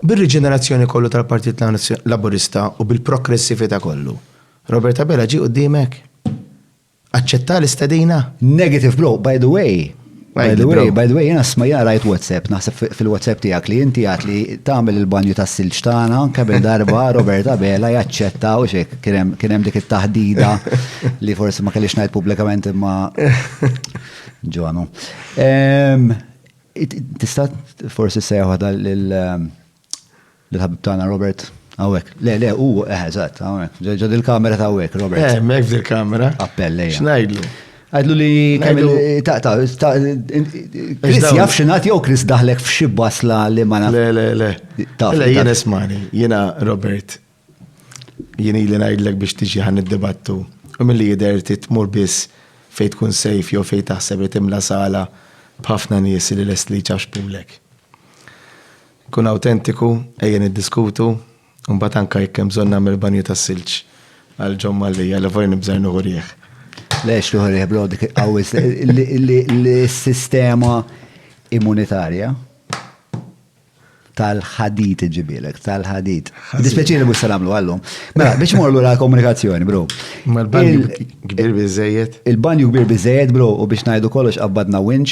Bir-riġenerazzjoni kollu tal-Partit Laburista u bil-progressività kollu, Robert Abela ġie quddiemek? Aċċetta l-istedina? Negative blow, by the way, by the way, by the way, jiena smajja rajt WhatsApp, naħseb fil-WhatsApp tiegħek li inti għad li tagħmel il-banju tas-silġ tagħna kemm il-darba Robert Abela jaċċetta u xek kien hemm dik it-taħdida li forsi ma kellix ngħid pubblikament imma ġonu. Tista' forsi sejjaħ waħda lill-ħabib tagħna Robert hawnhekk. Le, le, hu eh, eżatt, hawnhekk. Ġod il-kamera ta' hawnhekk, Robert. Eh, hemmhekk fil-kamera. Appell lejja. X'ngħidlu? Għidlu li kamilu ta' ta' ta' Chris jaf xinat jew Chris daħlek f'xi basla li ma naf. Le, le, le. Ta' le, jien ismani, jiena Robert, Jien ili ngħidlek biex tiġi ħa niddibattu u milli jidher trid tmur biss fejn tkun safe jew fejn taħseb li timla sala b'ħafna nies li lesti li jċaxxpulek. Kun awtentiku, ejja niddiskutu, u mbagħad anke jekk hemm bżonn nagħmel banju tas-silġ għal John Mallia li forsi nibża' nieħu riħ. Le x'tieħu riħ bro dik il-qawwi li s-sistema immunitarja Tal-ħadid iġibilek, tal-ħadid. Dispjaċini mhux se nagħmlu għallum. Mela, biex imur lura l-komunikazzjoni, bro. Ma l-banju kbir biżejjed. Il-banju kbir biżejjed, bro, u biex ngħidu kollox qabbadna winċ.